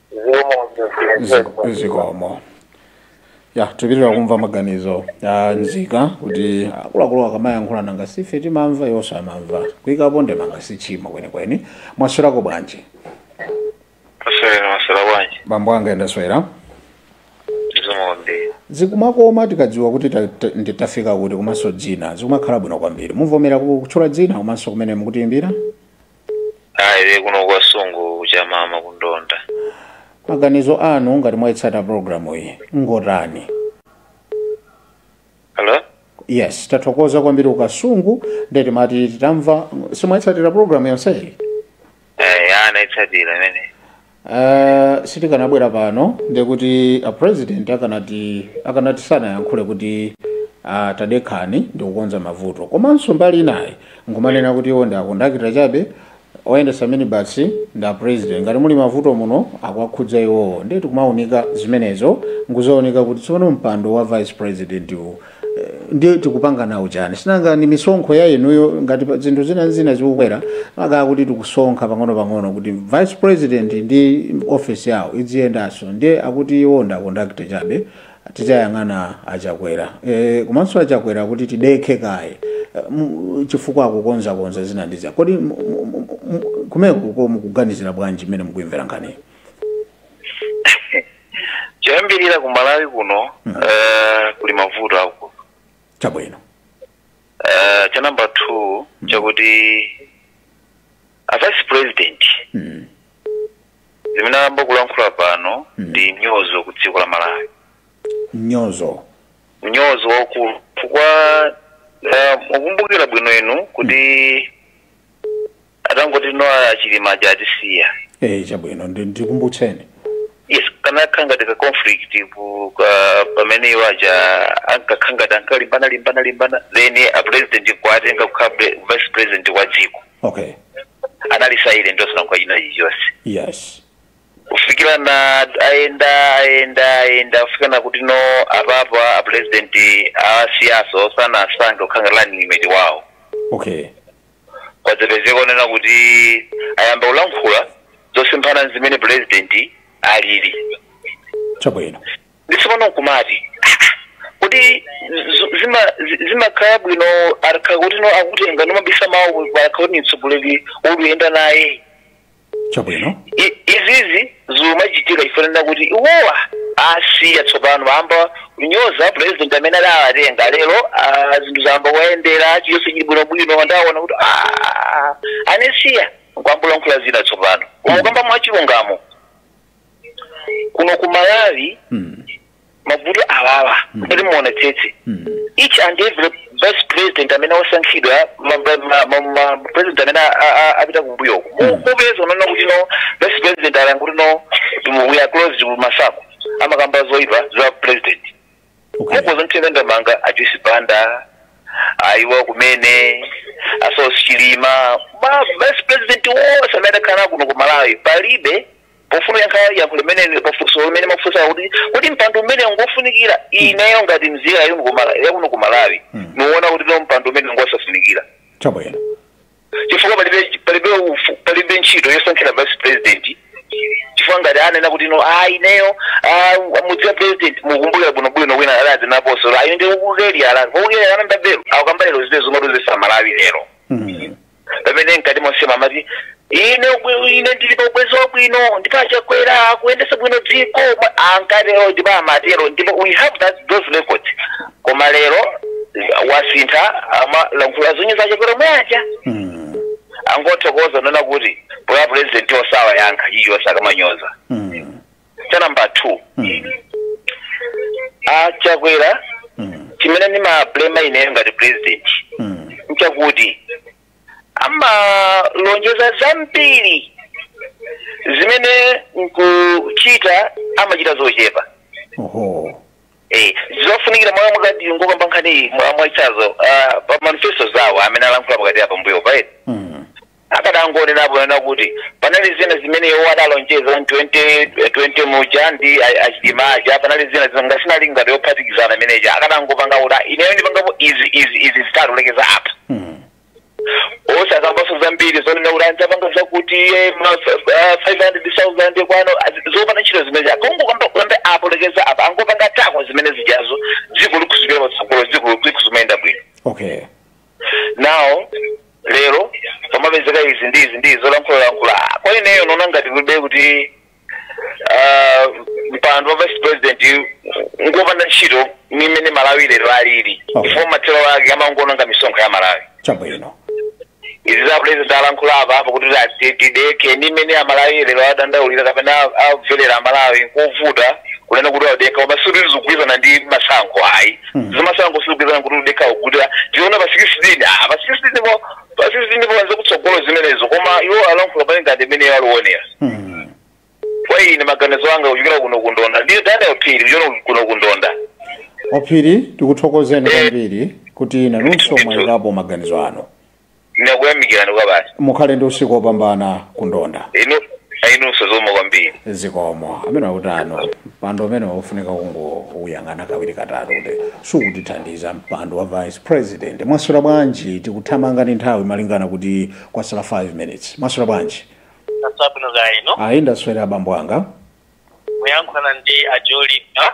Ziko- zikomo ya tipitiriza kumva maganizo a nzika kuti akuluakulu akamayankhulana nanga si ife timamva iwonso amamva kuyikapo ndemanga sichimo kwenikweni mwaswerako bwanji Aswera mwaswera bwanji bambo anga ndaswera zimombe zikumakoma tikadziwa kuti ta- ta- ndi- tafika kuti komanso dzina zikumakhala bwino kwambiri muvomere ku- kutchula dzina komanso kumene mukutiyimbira ayi le kuno ku Kasungu ku Chamama kundonda maganizo anu ngati mwayitsata programu iyi ngotani hello yes tathokoza kwambiri ku Kasungu nde timati titamva simwayitsatira programu yonseyi eh anaitsatira imene Uh, sitikanabwera pano ndekuti a president akanati akanati sanayankhule kuti uh, tadekhani ndikukonza mavuto komanso mbali ina nkumanena kuti iwo ndi akondakita chabe oyendesa minibasi ndi a president ngati muli mavuto muno akuwakhudza iwowo ndeti kumaunika zimenezo nkuzaunika kuti tsopano mpando wa vice president uwu ndiye tikupanga nawo chani sinanga ni misonkho ya inuyo ngati pa- zinthu zina zina zikukwera makaa kuti tikusonkha pang'ono pang'ono kuti vice president ndi office yawo idziyendanso ndiye akuti iwo ndi akondakita chabe tidzayang'ana achakwera e, komanso achakwera kuti tidekhe kaye Eh, mu- chifukwa akukonzakonza zina ndi zina kodi mu- mu- mu- mu- kumeneko mukuganizira bwanji mmene mukuimvera nkhaniyi choyambirira ku malawi kuno mm. uh, kuli mavuto akulu chabwino uh, cha namba two mm. chakuti a vice president mm. zimene ayamba kulankhula pano mm. ndi mnyozo ku dziko la malawi mnyozo mnyozo waukulu chifukwa uh, mukumbukira bwino inu kuti atangoti a Chilima aja atisiya eh chabwino ndi- ndikumbutseni yes kanakhala ngati ka conflict ku- ka- pamene iwo aja ankakhala ngati ankalimbana limbana limbana then a president nkuwatenga kukhala pre- vice president wa dziko okay anali silent osanenako china chilichonse yes kufikira na ayenda ayenda ayenda kufika na kuti no apapa a president awasiya osawasankha kukhala running mate wawo okay kwadzapezeka zonena kuti ayamba kulankhula zosemphana ndi zimene purezidenti alili chabwino nde tsopano nkumati kuti zu- zima- zi- zimakhala bwino akakhala kuti no akutenga nomabisa mawu akakhala kuti ni mtsogoleri woti nkuyenda naye chabwino I- izizi zimachitika chifukwa chakuti iwo awasiya tsopano ayamba kunyoza president amene adawatenga lero ah, zinthu zayamba kuwayendera chilichonse chili bwinobwino ndi waona kuti "Ah, andisiya nkuyamba kulankhula zina tsopano koma kukamba mwachilungamo kuno ku malawi Mm. mavuto awawa kuti muonetsetse each and every vice president amene wasankhidwa ma- ma- ma- ma- ma- president amene a- a- a- apita kumbuyo kupeza umaona kuti no vice president ali kuti no we are close kumasankho amakamba zoipa za president okay mukhoza kumtenga ndi mama a Joyce Banda awa kumene a Saulos Chilima ma vice president onse amene adakhala kuno ku malawi palibe pofuna kuyankha yankho limene pafunso limene mwafunsa kuti kuti mpando umenewu ngofunikira ineyo ngati mzika yakuno ku Malawi- yakuno ku malawi nikuwona kuti no mpando umenewu ngosafunikira chabwino chifukwa palibe palibe ufu- palibe ntchito yosankhira vice president chifukwa ngati anena kuti no ah ineyo ah, mudziwa president mukumbukira bwino bwino wina alazi naposo ayo ndi ukukeli alazi ukukeli anamba belo akukamba lero zite zomwe tuzesa malawi lero Mm. pamene mkati monsemu amati ine ubwi- ine ndili pa ubwenzi wabwino ndipo achakwera akuyendetsa bwino dziko Ma- ankatero ndipo amatero ndipo we have those records koma lero wasintha amalankhula zonyoza achakwera omwe aja Mm. angothokoza kunena kuti poti a president osawa yankha iyosa akamanyoza Mm. cha namba 2 a chakwera chimene ndimablema ineyo ngati president nchakuti amalonjeza zambiri zimene nkuchita amachita zochepa oho Eh, zofunikira mwa mukati ngokamba nkhani mwa mwachitsanzo pa manifesto zawo amene alankhula pakati apa mbuyo paye Mm. Akadangonenapo kunena kuti panali zina zimene iwo adalonjeza mu 2020 muja ndi a- achilima aja panali zina zimene ngati inali ngati yophatikizana imene ija akadangopanga kuti "Ah, ineyo ndipangapo izi izi izi zitatu nkulekeza apa osakambaso zambiri zonena kuti adzapanga zakuti eh, ma- eh, 500,000 kwano azi- zopanda ntchito zimene akongokamba kulambe apo nkulekeza apa angopanga tako zimene zijazo dziko likhoza kupita patsogolo dziko likhoza kumayenda bwino okay nawo lero pamapezeka izi ndi izi ndi izi zolankhulalankhula Ah, kwa ineyo naona ngati kulibe kuti ah, mpando wa vice president ngopanda ntchito ni mmene malawi lero alili Okay. chifukwa mathero ake amangoononga misonkho ya amalawi chabwino izi za president alankhula apa apa kuti ati tidekhe ni mmene amalawi lero akudandaulira kapena akumvera amalawi kovuta kunena kuti adekha koma sikuti zikugwirizana ndi masankho ayi zimasangosukizana kuti udekha kukuta tiona pa 16 ah pa 16 po pa 16 po wanza kutsogolo zimenezo koma iwo alankhula malinga ndi mmene aliwonera Hmm. kwa ine maganizo anga kuchokera kuno kundonda ndine daniel phiri kuchokera kuno kundonda a phiri tikuthokozeni kwambiri kuti nanunso mwayikapo maganizo anu ndakuyamikirani kwabasi mukhale ndi usiku wopambana kundonda inu ayinunso zomwe kwambiri zikomo amene akutano mpando umene ukufunika kungouyang'ana kawiri katatu kuti sukutithandiza mpando wa vice president mwaswera bwanji tikuthamanga ndi nthawi malingana kuti kwasala 5 minutes mwaswera bwanji asabwino za ino ayi ndaswera abambo anga mukuyankhulana ndi ajolipa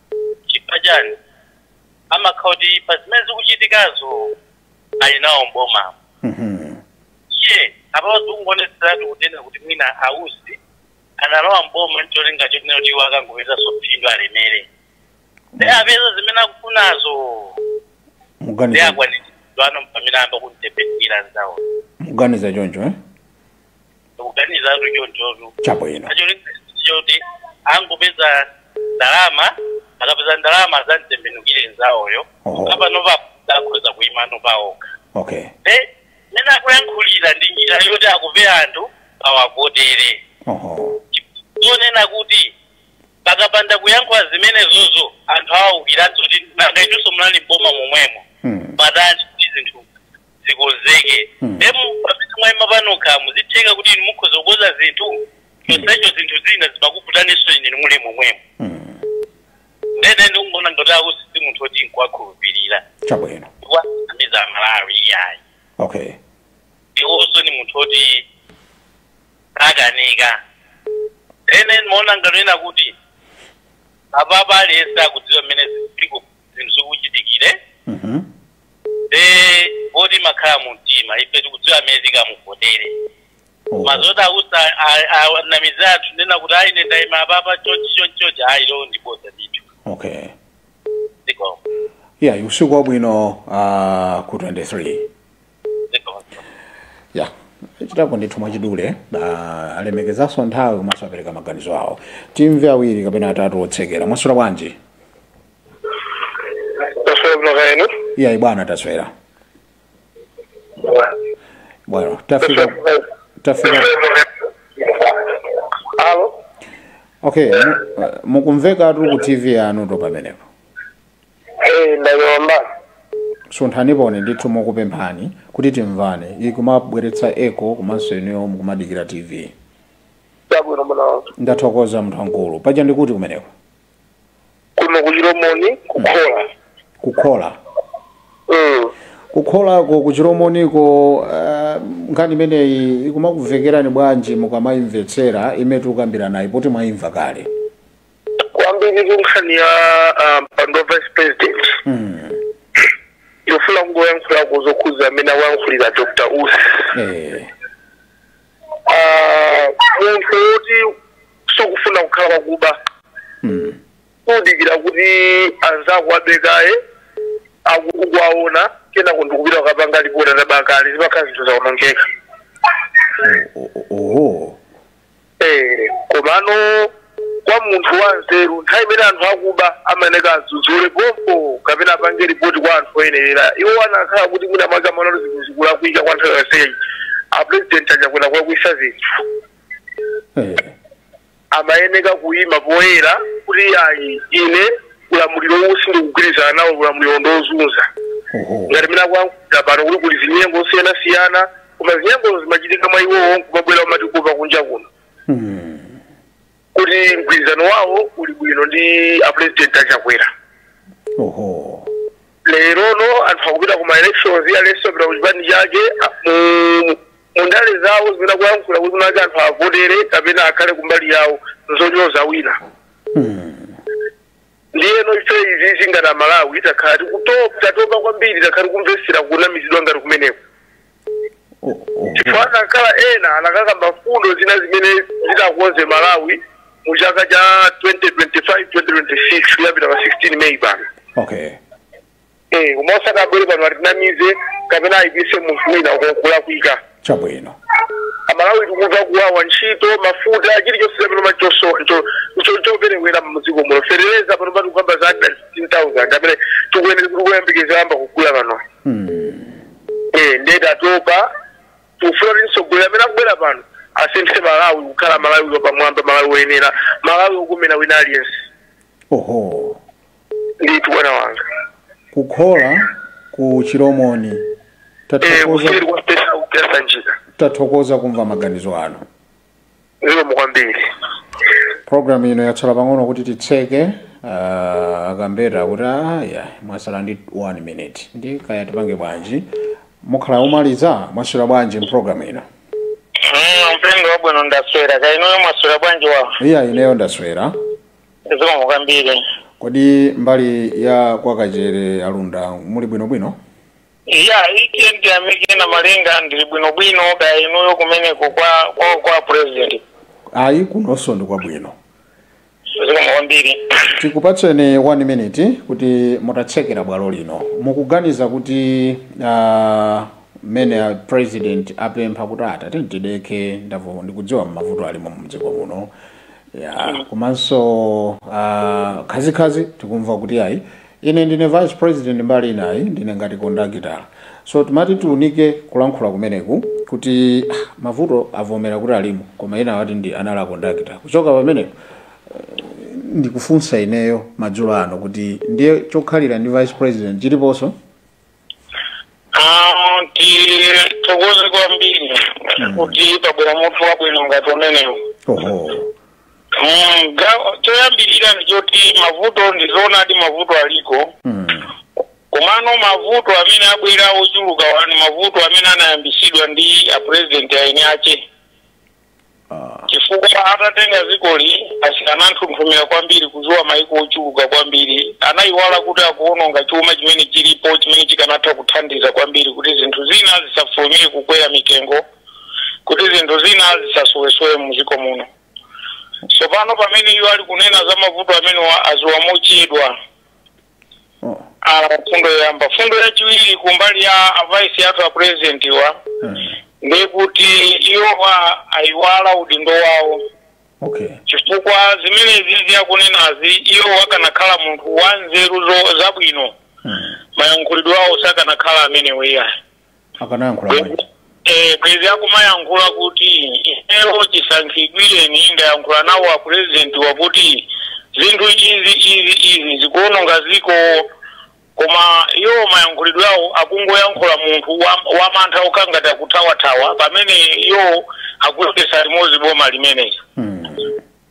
chifukwa chani amakhala kuti pa zimene zikuchitikazo ali nawo mboma Mhm. iye apapo zikungooneseratu kunena kuti mwina a Usi analowa mboma ncholinga chonena kuti iwo akangopezaso phindu alemere ndi apeza zimene akufunazo ndi muganiza akwanitsidwano pamene ayamba kumutembenukira nzawo muganiza choncho eh? ndikuganizatu chonchotu chabwino choti angopeza ndalama akapeza ndalama azamutembenukire nzawoyo Oho. ngati panopa akhoza kuimano paokha okay Eh, mmene akuyankhulira ndi njira yoti akope anthu awavotere oho zonena kuti pakapanda kuyankhula zimenezozo anthu awaukiranso kuti nanga inunso munali mboma momwemo Hmm. bwanji kuti zinthu zikonzeke Mm. emu pamene mwayima panokha mo zitheka kuti inu mukhoza kukonza zinthu chonsecho zinthu zina zimakuvutaninso inu muli momwemo Mm. ndene ndikuwaona ngati a Usi si munthu oti nkuwakhulupirira chabwino akunamiza amalawi iyayi okay iwonso ni munthu oti akanika ene ndimaona ngati kunena kuti apapa aliyense akudziwa mmene zinthu zinthu zikuchitikire Mhm. nde voti imakhala mu mtima ife tikudziwa amene tikamuvotere Oh. ma zoti a Usi anamize anthu kunena kuti ayi ine ndaima apapa chonchi chonchi chonchi ayi ilo ndi boza ndithu Okay. zikomo Yeah, usiku wabwino uh, ku 23. zikomo yah achitapo ndithu mwachidule ah, alemekezanso nthawi komanso apereka maganizo awo timve awiri kapena atatu otsekera mwaswera bwanji taswera bwino kaya inu iyayi bwana taswera bwana tafika tafika alo okay mu- uh, mukumvekatu ku tv yanuyo pamenepo Eh, ndayomba sunthaniponi ndithu mokupemphani kuti timvane ikumabweretsa echo komanso inuyo mukumadikira tv chabwino munawo ndathokoza munthu wankulu paja ndikuti kumeneko kuno kuchilomoni kukhola kukhola Mm. kukholako kuchilomoniko uh, nkhani imeneyi ikumakumvekerani bwanji mukamayimvetsera imene tikukambiranayi poti mwayimva kale kwambiri ku nkhani ya ah, mpando wa vice president mm. yofuna kungoyankhulako zokhudza amene awayankhulira dr usi eh. ah, munthu woti sukufuna kukhala wakuba Mm. kudikira kuti anzako abe kaye akuwaona kenako ndikupita kukapanga lipoti ataba kale zimakhala zinthu zaonongeka O- o- Oho. Eh, komano kwa munthu wanzeru nthawi imene anthu akuba amayeneka adzudzule pompo kapena apange ripoti kwa anthu oyenerera iwo anakhala kuti mwina mwake amaona zinthu zikulakwika kwa nthawi yonseyi apurezidenti achakwera kulakwisa zinthu Eh, amayeneka kuyima poyera kuti ayi ine ulamuliro uwu sindikugwirizana nawo ulamuliro ndiozunza oho. ngati mmene akuyankhulira pano kuti kuli zinyengo zosiyanasiyana koma zinyengozo zimachitika mwa iwowo nkumabwera kumatiuza kunja kuno kuti mgwirizano wawo uli bwino ndi apulezidenti achakwera oho lerono anthu akupita ku maelections aliyense apita ku chipani chake a- mu- mu ndale zawo zimene akuyankhula kuti kwinakwake anthu avotere kapena akhale kumbali yawo nzonyoza wina ndiyeno ife izizi ngati amalawi takhala tatopa kwambiri takhala tikumvetsera kunamizidwa ngati kumeneko chifukwa anakakhala ena anakakamba mfundo zina zimene zitakonza malawi mu chaka cha 2025 2026 kuyambira pa 16 meyi pano okay Eh, koma osati abwere pano atinamize kapena ayipise munthu wina kulakwika chabwino amalawi tikumva kuwawa ntchito mafuta chilichonse chapano choperewera mdziko muno feteleza pano pakuti tikukamba za 15000 amene tikuyenera kuti kuyambikeza yamba kugula pano Eh, ndiye tatopa tikufuna kuti mtsogoleri amene akubwera pano asinthe malawi kukhala malawi wapamwamba malawi woyenera malawi wokomera wina aliyense oho ndithu bwana wanga kukhola ku chilomoni eh tathokoza kuseri kwa pesa kupesa njira tathokoza kumva maganizo anu zikomo kwambiri programu ino yatsala pang'ono kuti titseke uh, akambeta kuti ayi mwatsala ndi 1 minute ndi kaya tipange bwanji mukhala omaliza mwaswera bwanji mpulogalamu ino mpengo wabwino ndaswera kaya inuyo mwaswera bwanji wawa iya ineyo ndaswera zikomo kwambiri kodi mbali ya kwakachere alunda muli bwinobwino ya ichi ndiyamike Namalenga ndili bwinobwino kaya inuyo kumeneko kwa kwa, kwa president ayi kunonso ndi kwabwino zikomo kwambiri tikupatseni 1 minute kuti mutatsekulira bwalo lino mukuganiza kuti ah, mmene a president apempha kuti atate tidekhe ndamva ndikudziwa mavuto alimo mdziko muno ya komanso ah, khazikhazi tikumva kuti ayi Ine ndine vice president mbali inayi ndine ngati kondakitala so timati tiunike kulankhula kumeneku kuti ah, mavuto avomera kuti alimo koma enawa ati ndi anali akondakitala kuchoka pamenepo ndikufunsa ineyo madzulo ano kuti ndiye chokhalira ndi vice president chiliponso Ah, tithokoze kwambiri kuti pabwera mutu wabwino ngati umenewu oho Mm, ga- choyambirira ndi choti mavuto ndi zoonadi mavuto aliko Mm. komano mavuto amene abwera ochulukawa ni mavuto amene anayambisidwa ndi apurezidenti eni ake chifukwa atatenga dzikoli ananthunthumira kwambiri kuziwa maiko ochuluka kwambiri anayiwala kuti akuononga chuma chimene chilipo chimene chikanatha kuthandiza kwambiri kuti zinthu zina zisafulumire kukwera mitengo kuti zinthu zina zisasowesowe muziko muno tsopano pamene iwo ali kunena za mavuto amenewa aziwa mochedwa Ah, fundo yoyamba fundo yachiwiri kumbali ya avaisi athu a presidentiwa ndekuti iwowa ayiwala udindo wawo okay chifukwa zimenezizi akunenazi iwo akanakhala munthu wanzeru zo- zabwino mayankhulidwe awo sakanakhala amenewo iyayi akanayankhula bwanji Eh, bwezi akumayankhula kuti inewo chisankhidwireni ndayankhula nawo a presidentiwa kuti zinthu izi izi izi zikuononga ziko koma iwo mayankhulidwe awo akungoyankhula munthu wa- wamantha okhangati akuthawathawa pamene iwo akuyendetsa limodzi boma limeneli Mm.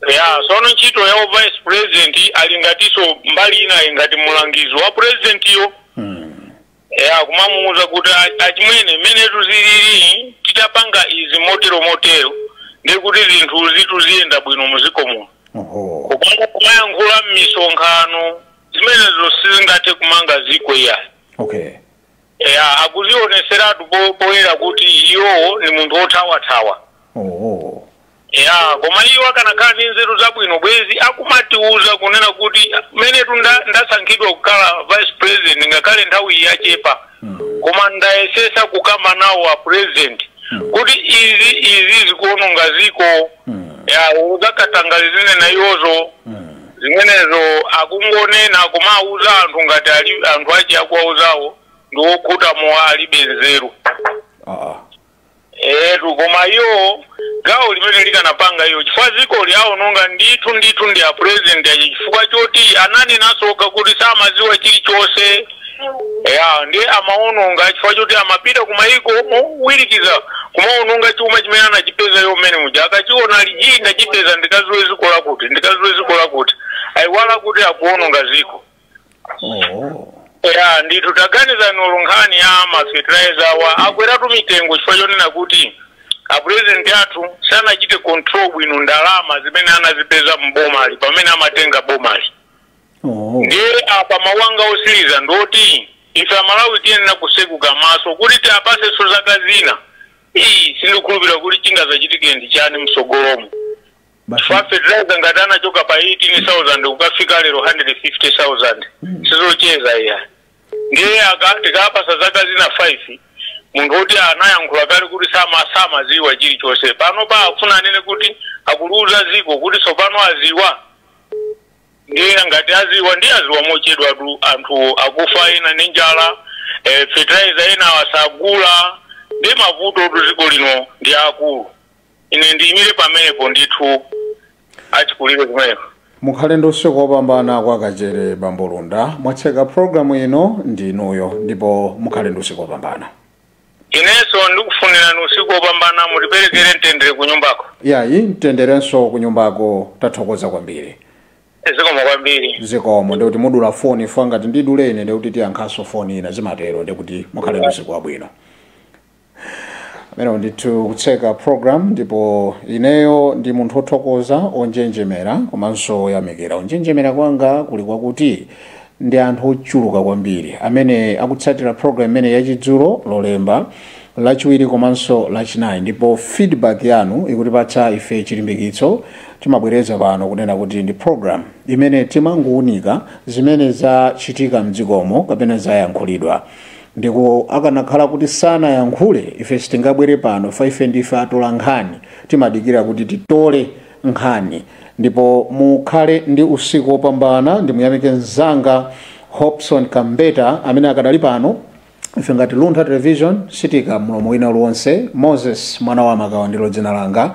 ya sono ntchito ya vice president ali ngatiso mbali ina ngati mulangizi wa presidentiyo Mm. ya kumamuuza kuti a- achimwene mmene zinthu zilili titapanga izi motero motero ndi kuti zinthuzitu ziyenda bwino muziko muno oho Koma kumayankhula m'misonkhano zimenezo sizingathe kumanga ziko iyayi okay ya akuzioneseratu po- poyera kuti iwo ni munthu wothawathawa oho ya koma iwo akanakhala ndi nzeru zabwino bwezi akumatiuza kunena kuti menetu nda- ndasankhidwa kukhala vice president ngakhale nthawi yachepa koma ndayesesa kukamba nawo a president kuti izi izi zikuononga ziko ya za katangale zinena iwozo zimenezo akungonena koma auza anthu ngati ali anthu achi akuwauzawo ndiwokhuta mowa alibe nzeru etu koma iwo gawo limene akanapanga iwo chifukwa dziko ili awononga ndithu ndithu ndi a president achi chifukwa choti ananenanso okha kuti samaziwa chilichonse ya ndi amaononga chifukwa choti amapita kumayiko mowirikiza kumaononga chuma chimene anachipeza iwo mmene muja akachiona lija ndachipeza ndikaziwe dziko lakuti ndikaziwe dziko lakuti ayiwala kuti akuononga dziko ya ndithu taganizani olo nkhani ya mafetilizer awa akweratu mitengo chifukwa chonena kuti apurezidenti athu sanachite control bwino ndalama zimene anazipeza mbomali pamene amatenga bomali ndiye apa mawu anga otsiriza ndoti ife amalawi tiyenera kutseguka maso kuti tiwapasenso zaka zina ayi sindikhulupirira kuti chingazachitike ndi chani msogolomo chifukwa fertilizer ngati anachoka pa 18000 kukafika lero 150000 sizocheza iya ndiye aka- tikawapasa zaka zina 5 munthu woti anayankhula kale kuti sama samaziwa chilichonse panopa afuna anene kuti akuliuza ziko kuti tsopano aziwa ndiye ngati aziwa ndiye aziwa mochedwatu anthu akufa ena ndi njala eh, fertilizer enawa sagula ndi mavutotu ziko lino ndi aakulu ine ndiyimire pamenepo ndithu achikulire kumeneko mukhale ndi usiku wopambana kwa Kachere bambo Lunda mwatseka programu ino ndi inuyo ndipo mukhale ndi usiku wopambana inenso ndikufunirani usiku wopambana mutiperekere mtendere ku nyumbako yayi mtenderenso kunyumbako tathokoza kwambiri zikomo kwambiri zikomo ndikuti mudula foni ife ngati ndidule ine ndikuti tiyankhenso foni ina zimatero ndikuti mukhale ndi usiku wabwino amene ndithu kutseka program ndipo ineyo ndi munthu othokoza onjenjemera komanso oyamikira kunjenjemera kwanga kuli kwakuti ndi anthu ochuluka kwambiri amene akutsatira program imene yachidzulo lolemba lachiwiri komanso lachinayi ndipo feedback yanu ikutipatsa ife chilimbikitso timabwereza pano kunena kuti ndi program imene timangowunika zimene zachitika mdziko muno kapena zayankhulidwa Ndipo akanakhala kuti sanayankhule ife sitingabwere pano chifukwa ife ndife atola nkhani timadikira kuti titole nkhani ndipo mukhale ndi usiku wopambana ndimuyamike mzanga Hopson Kambeta amene akadali pano ife ngati Luntha Television sitiika mlomo wina uliwonse Moses mwana wa Makawa ndilo dzina langa.